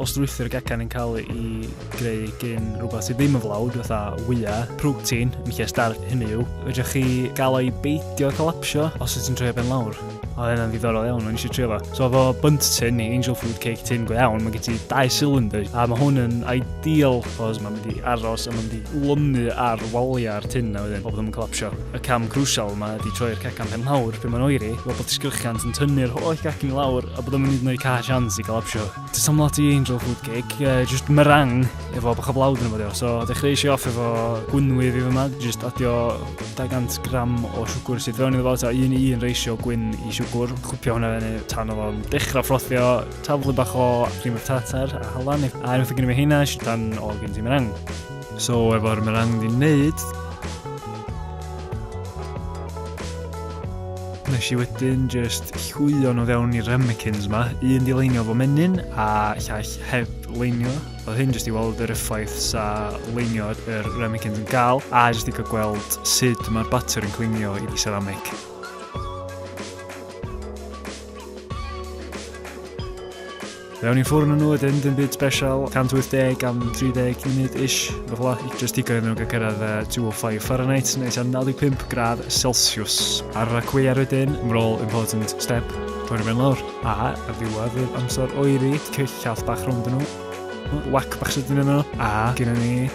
Os drwythu'r gacan yn cael ei greu gyn rhywbeth sydd ddim yn flawd, fatha wya, protein, yn lle starch, hynny yw, ydych chi gael ei beidio collapsio os ydych chi'n troi ben lawr. Oedd hynna'n ddiddorol iawn, o'n eisiau trio fo. So fo bunt tin i angel food cake tin go iawn, mae gen ti dau cylinder, a mae hwn yn ideal, cos mae'n mynd i aros a mae'n mynd i lwnu ar waliau'r tin na wedyn, o bod yn collapsio. Y cam crusial yma ydy troi'r cecan pen mawr lle mae'n oeri, fel bod disgyrchiant yn tynnu'r holl gacen i lawr a bod o'n mynd i wneud cae sians i galapsio. Ti'n teimlo lot i angel food cake, uh, just meringue efo bach o flawd yn ymwneud. So, dechreuais i off efo gwynwyf i fy yma, just adio 200 gram o siwgr sydd fewn i fo, ta un i un reisio gwyn i siwgr, chwpio hwnna fewn i tan o fo'n dechrau ffrothio, taflu bach o cream of tartar a halan, a unwaith o gen i fi heina, eisiau tan o gen ti meringue. So efo'r merang di wneud, nes i wedyn just llwio nhw fewn i'r ramekins ma. Un di leinio fo menyn a llall heb leinio. Oedd hyn jyst i weld yr effaith sa leinio yr ramekins yn gael a jyst i cael gweld sut mae'r batter yn clinio i di ceramic. Mewn i ffwrn yn nhw ydyn, dim byd special, 180 am 30 munud ish, beth la, just digon iddyn nhw gael cyrraedd uh, 205 Fahrenheit, neu tua 95 gradd Celsius. Ar y cwiar wedyn, mae'n all important step, torri fe'n lawr, a ar ddiwedd yr amser oeri, cyll llall bach rhwng dyn nhw, whack bach sydyn yno, a gyda ni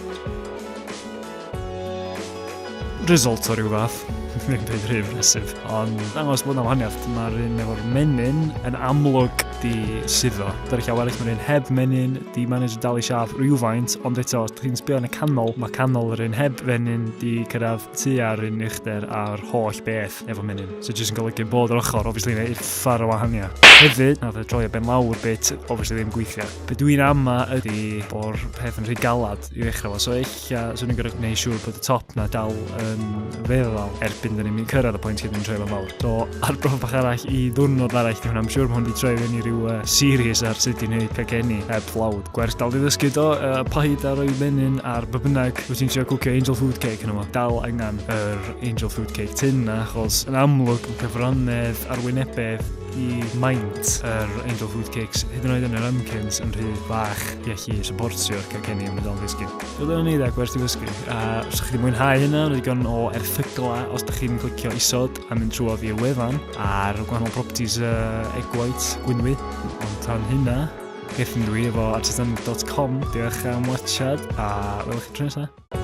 result o ryw fath. Dwi'n mynd i'n rhyw fesydd. Ond dangos bod yna wahaniaeth. Mae'r un efo'r menyn yn amlwg di suddo. Dy'r llaw eraill mae'r un heb menyn, di manage dal i siaf rhywfaint, ond eto, os chi'n sbio yn y canol, mae canol yr un heb fenyn di cyrraedd tu ar un uchder a'r holl beth efo menyn. So jyst yn golygu bod yr ochr, obviously, neu uffar o wahaniaeth. Hefyd, na fe troi y ben lawr bit, obviously ddim gweithio. Be dwi'n ama ydy bod peth yn rhy galad. i ddechrau fo. So eich, swn i'n gorau gwneud siŵr bod y top na dal yn feddal erbyn dyn ni'n cyrraedd y pwynt hyn yn troi fo'n fawr. So arbrof bach arall i ddwrnod arall di hwnna. Am siŵr mae hwn di troi fyny rhyw uh, series ar sut i'n neud cacenni heb uh, plawd. Gwers dal di ddysgu do, uh, paid ar o'i menyn ar by bynnag wyt ti'n trio cwcio angel food cake yn yma. Dal angen yr angel food cake tin na, achos yn amlwg mae cyfrannedd arwynebedd i maint yr Angel Food Cakes, hyd yn oed yn yr ymcyns yn rhy bach i allu supportio'r cacenni yn y don ddysgu. Roedd yn eiddo ac werth i ddysgu. A os ydych chi wedi mwynhau hynna, roedd gan o erthygla os ydych chi'n clicio isod a mynd trwy oddi y wefan ar gwahanol properties uh, egg white, gwynwy. Ond tan hynna, gethyn dwi efo artisan.com. Diolch am watchad a welwch chi tro nesaf.